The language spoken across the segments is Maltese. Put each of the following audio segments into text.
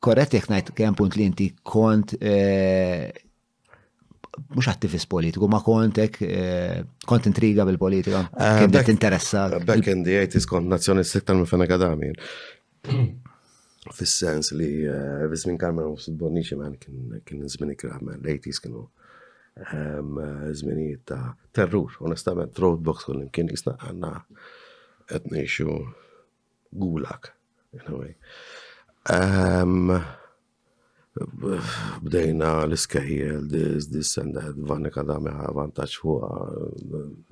korrett jekk ngħid kemm punt li inti kont eh, mhux attivist politiku, ma kontek eh, kont intriga bil-politika. Ah, Kien qed interessa. Back in the 80s kont nazzjonist iktar minn fena kadami. Fis-sens li eh, Vizmin Karmen u Bonnici man kien żmien ikra, man l-80s kienu ehm, żminijiet ta' terrur, onestament, roadblocks kull kien jisna għanna qed ngħixu Gulak, in a way. Bdejna l-iskejjel, this, this and that, vanika da meħa vantaċ fuqa,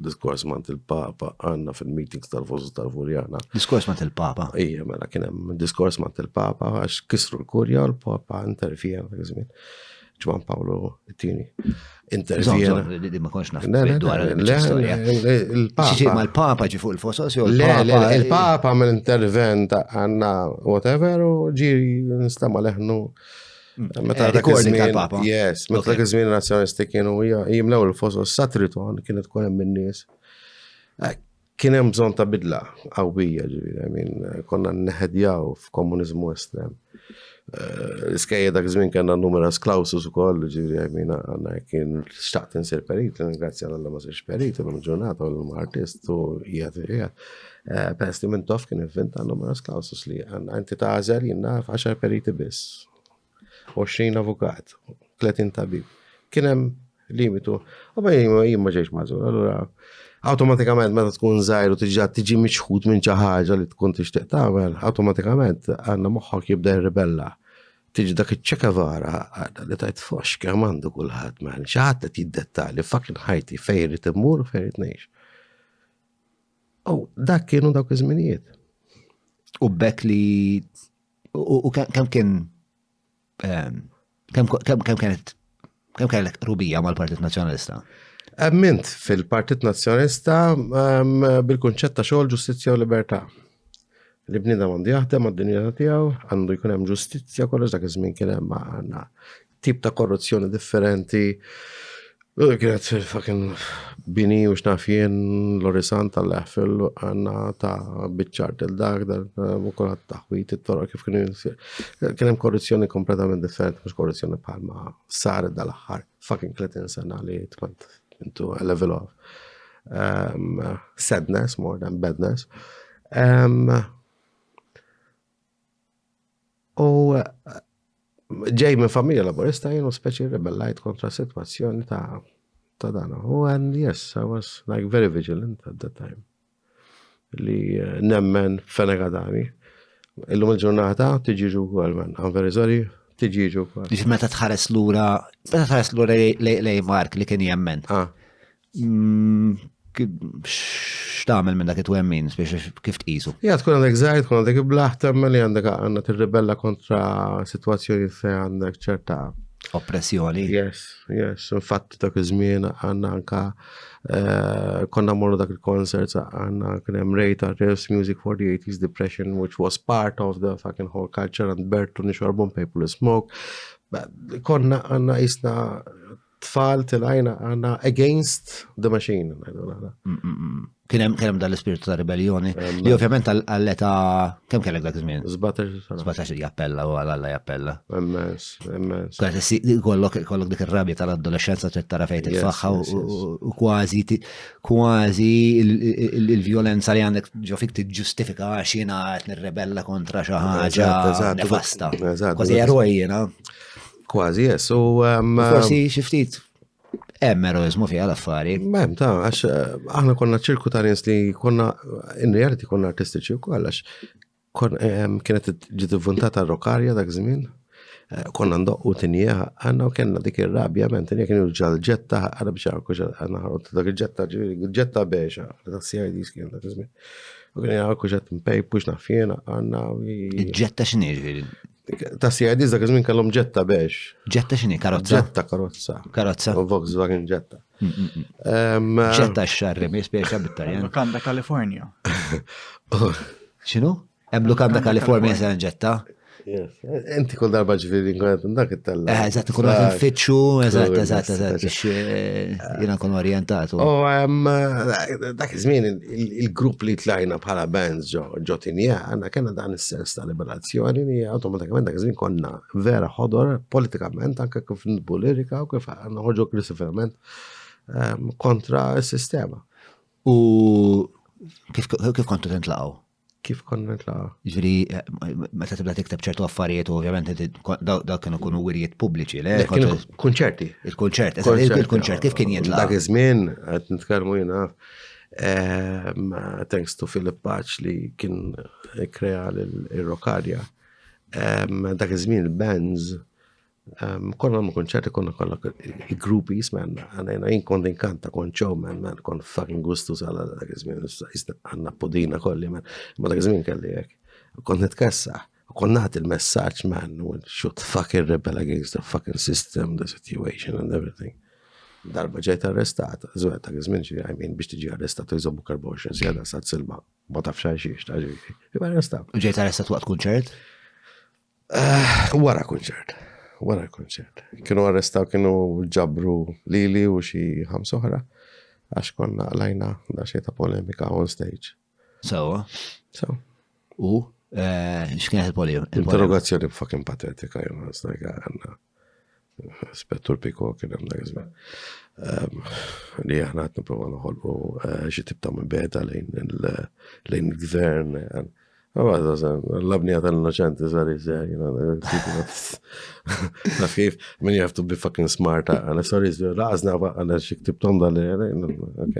diskors mant il-papa, għanna fil-meetings tal-fosu tal-furjana. Diskors mant il-papa? Ija, mela kienem diskors mant il-papa, għax kisru l-kurja, l-papa interfija, għazmin. Ġwan Pawlu t-tini. Intervjena. Li ma konx naf dwar l-istorja. Il-Papa. Ma l-Papa ġi fuq il-fosos jew il-Papa mill intervent għanna whatever u ġi nistama leħnu. Mm. Meta eh, dak iż-żmien. Yes, meta dak iż-żmien nazzjonisti kienu jimlew il-fosos satriton kienet tkun hemm in-nies. Eh, Kien hemm bżonn ta' bidla qawwija, ġifieri, I mean, konna nneħedjaw f'komuniżmu estrem. L-iskejjel dak iż-żmien kellna numerous clausus ukoll, ġifieri, I mean, għandna jekk kien xtaqt insir perit, ingrazzja l Alla ma sirx perit, illum il-ġurnata u llum artist u qiegħed qiegħed. Peress li Mintoff kien ivvinta numerous clausus li għandna inti tagħżel jien naf għaxar periti biss. 20 avukat, 30 tabib. Kien hemm limitu. U ma jien ma ġejx mażur, allura awtomatikament meta tkun żgħir u tiġa tiġi miċħud minn xi ħaġa li tkun tixtieq tagħmel, awtomatikament għandna moħħok jibda jirribella. Tiġi dak iċ-ċeka vara għadha li tajt fox kemm għandu kulħadd man, xi ħadd qed jiddettali fucking ħajti fejn irid immur u fejn irid ngħix. U dak kienu dawk iż-żminijiet. U bekk li U kemm kien ehm, kemm kienet kemm kellek rubija mal-Partit Nazzjonalista? Emmint fil-Partit Nazzjonalista ehm, bil-kunċett ta' xogħol ġustizzja u libertà. Li bniedem għandu jaħdem għad-dinjità tiegħu, għandu jkun hemm ġustizzja kollox dak iż-żmien kien hemm għandna tip ta' korruzzjoni differenti. Kienet fucking bini u xnaf jien l-orisan tal-leħfil għanna ta' bitċar del dak dal mukulat eh, taħwit it-toro kif kien jinsir. Kien hemm korruzzjoni kompletament differenti mhux korruzzjoni bħalma sar dal-aħħar fucking 30 sena li tkont into a level of um, sadness more than badness. Um, U ġej minn familja laburista jenu speċi rebellajt kontra situazzjoni ta' ta' dan. U and yes, I was like very vigilant at that time. Li eh, nemmen fenegadani. Illum il-ġurnata tiġiġu għal man. I'm very sorry, tiġiġu għal. Biex meta tħares lura, meta tħares lura lej Mark li kien jemmen. Ah. Mm, x'tagħmel minn dak it-twemmin biex kif tqisu? Ja tkun għandek żgħir, tkun għandek iblaħ temmel li għandek għandna tirribella kontra sitwazzjoni fejn għandek ċerta oppressjoni. Yes, yes, infatti dak iż-żmien għandna anka eh, konna morru dak il-concert għandna kien hemm Rejta Revs Music for the 80s Depression which was part of the fucking whole culture and Bertu nixorbu paper smoke. Konna għandna jisna tfal tilajna għanna against the machine. Kienem kienem dal-ispirtu ta' ribellioni, li ovvjament għall-eta kem kellek dak iż-żmien? 17 jappella u għal-alla jappella. Emmens, emmens. Kollok kollok dik ir-rabja tal-adolescenza trid tara fejn titfaħħa u kważi kważi il-vjolenza li għandek ġo fik tiġġustifika għax jiena qed nirrebella kontra xi ħaġa nefasta. Kważi eroj jiena. Kważi, yes. U forsi xi ftit hemm eroizmu fiha l-affari. Hemm ta' għax eh, aħna konna ċirku ta' nies li konna in reality konna artistiċi wkoll għax kienet ġiet ivvuntata rokarja dak żmien. Eh, konna ndoqqu tinja għanna u kena dik il-rabja men tinja kienu l-ġetta għanna biex għarku għanna għarku dak il-ġetta ġetta biexa dak CID skien dak iżmin. U kien għarku ġett mpej pux nafjena għanna. Ġetta xinir? Ta' CID dak iż-żmien kellhom ġetta bex. Ġetta x'inhi karozza? Ġetta karozza. Karozza. U Volkswagen ġetta. Mm, mm, mm. Ġetta x-xarri mi spiexa bit-Taljan. Lukanda California. X'inhu? Hemm Lukanda California se ġetta. Inti kull darba ġviri nkun qed dak it-tella. Eh, eżatt, nkun qed nfittxu, eżatt, eżatt, eżatt, biex eh, jiena nkun orjentat. U eh, dak iż-żmien il-grupp li tlajna bħala bands ġo tinja, għandna kena dan is-sens ta' liberat. Azzjoni li awtomatikament dak iż-żmien konna vera ħodor politikament anke kif nitbu lirika u kif noħorġu aggressivament ehm, kontra s-sistema. U kif kif kontu tintlaqgħu? Kif konna nitlaqgħu? Ġifieri eh, meta tibda tikteb ċertu affarijiet u ovvjament dak kienu kunu wirjiet pubbliċi, le? Kunċerti. Il-kunċert, il-kunċert kif kien jintlaqgħu? Dak iż-żmien qed nitkellmu jiena Um, thanks to Philip Paċ li kien krea l-Rokarja. Um, dak iż-żmien il-bands Um, konna ma konċerti konna kolla gruppi jismen, għanajna jien kont inkanta kon showman, man, kon fucking gustu sala dak iż-żmien, għanna podina kolli, man, ma dak iż-żmien kelli jek, kont nitkessa. Kon naħt il-messaġġ man, should fucking rebel against the fucking system, the situation and everything. Darba ġejt arrestat, żwed ta' żmien xi għajmin biex tiġi arrestat u jżommu karboxin sjeda sa' silma. Ma tafx għal xiex ta' ġifi. Iba arrestat. U ġejt arrestat waqt kunċert? Eh, wara kunċert. Wara kunċert. Kienu arrestaw kienu ġabru lili u xi ħamsoħra għax konna lajna da xejn ta' polemika on stage. Sewa. Sewa. U eh, x'kienet il-polio? Interrogazzjoni fucking patetika jew ħasna għandna. Spettur Piko kien hemm dak iżmin. Ehm, li aħna qed nipprova noħolqu eh, xi tip ta' mibeda lejn il-gvern. L-abnija tal-innoċenti sar jizzer, naf kif, min you have to be fucking smart, għana sar jizzer, laqazna għana xik tibtom dal-li, ok.